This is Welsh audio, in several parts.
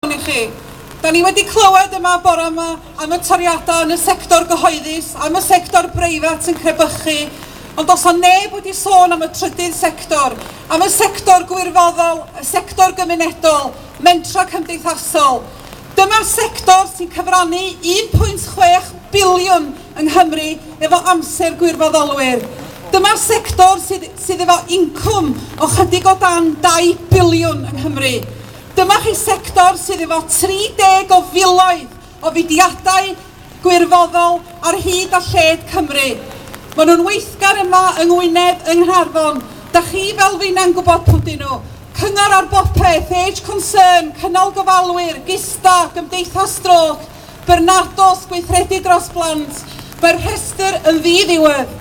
iawn i chi. Da ni wedi clywed yma bore yma am y toriadau yn y sector gyhoeddus, am y sector breifat yn crebychu, ond does yna neb wedi sôn am y trydydd sector, am y sector gwirfoddol, y sector gymunedol, mentrau cymdeithasol. Dyma sector sy'n cyfrannu 1.6 biliwn yng Nghymru efo amser gwirfoddolwyr. Dyma sector sydd, sydd efo incwm o chydig o dan 2 biliwn yng Nghymru. Dyma chi sector sydd efo 30 o filoedd o fudiadau gwirfoddol ar hyd a lled Cymru. Maen nhw'n weithgar yma yng Ngwynedd, yng Nghaernarfon. Da chi fel finna'n gwybod pw dyn nhw. Cyngor ar bopeth, Age Concern, Cynnal Gofalwyr, Gista, Gymdeithas Strôc, Byrnados, Gweithredu Dros Blant, mae'r rhestr yn ddi-ddiwedd.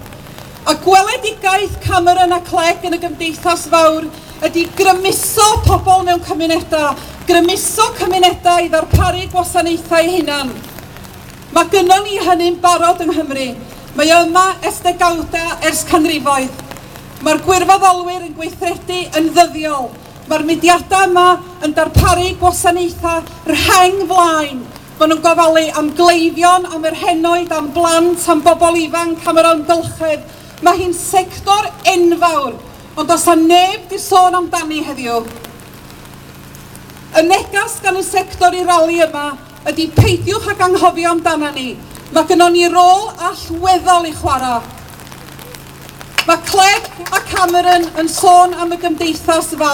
A gweledigaeth Cameron a Clegg yn y Gymdeithas Fawr, ydy grymuso pobl mewn cymunedau, grymuso cymunedau i ddarparu gwasanaethau eu hunan. Mae gynnon ni hynny'n barod yng Nghymru. Mae o yma ers degawda, ers canrifoedd. Mae'r gwirfoddolwyr yn gweithredu yn ddyddiol. Mae'r mudiadau yma yn darparu gwasanaethau rheng flaen. Maen nhw'n gofalu am gleifion, am yr henoed, am blant, am bobl ifanc, am yr amgylchedd. Mae hi'n sector enfawr. Ond does 'na neb 'di sôn amdani heddiw. Y negas gan y sector i'r rali yma ydi peidiwch ag anghofio amdana ni, mae gynnon ni rôl allweddol i chwarae. Mae Clegg a Cameron yn sôn am y gymdeithas fawr.